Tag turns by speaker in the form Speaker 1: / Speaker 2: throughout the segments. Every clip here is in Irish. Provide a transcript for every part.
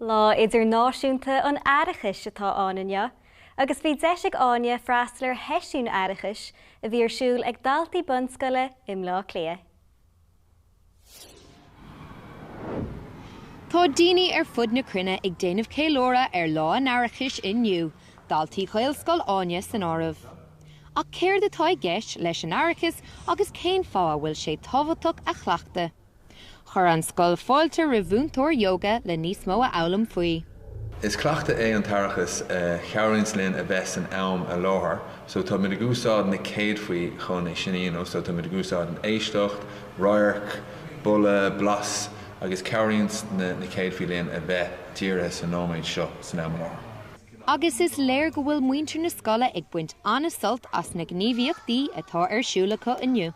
Speaker 1: Lá Idirnáisiúnta an Aireachais atá ann inniu agus bhí deis ag Áine freastal ar sheisiún aireachais a bhí ar siúl ag daltaí bunscoile i mBleá Cliath.
Speaker 2: Tá daoine ar fud na cruinne ag déanamh ceiliúradh ar Lá an Aireachais inniu, daltaí Ghaelscoil Áine san áireamh. Ach céard atá i gceist leis an aireachas agus cén fáth a bhfuil sé tábhachtach a chleachtadh? Chuir an scoil fáilte roimh mhúinteoir yoga le níos mó a fhoghlaim faoi. Is
Speaker 3: cleachtadh é an t-aireachas a chabhraíonns linn a bheith san am i láthair so táimid ag úsáid na céadfaí chun é sin a dhéanamh so táimid ag úsáid an éisteacht, radharc, boladh, blas agus cabhraíonns na céadfaí linn a bheith dírithe sa nóiméad seo san am i láthair. agus is
Speaker 2: léir go bhfuil muintir na scoile ag baint an-sult as na gníomhaíochtaí atá ar siúl acu inniu.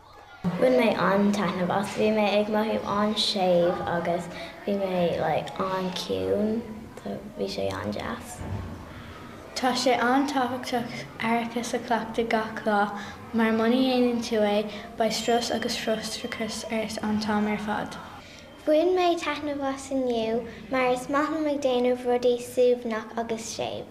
Speaker 2: Bhain mé
Speaker 4: an-taitneamh as, bhí mé ag mothú an-séimh agus bhí mé like an-ciúin so bhí sé an-deas. Tá
Speaker 5: sé an-tábhachtach aireachas a chleachtadh gach lá mar muna dhéanann tú é, beidh strus agus frustrachas ort an t-am ar fad. Bhain mé
Speaker 4: taitneamh as inniu mar is maith liom ag déanamh rudaí suaimhneach agus séimh.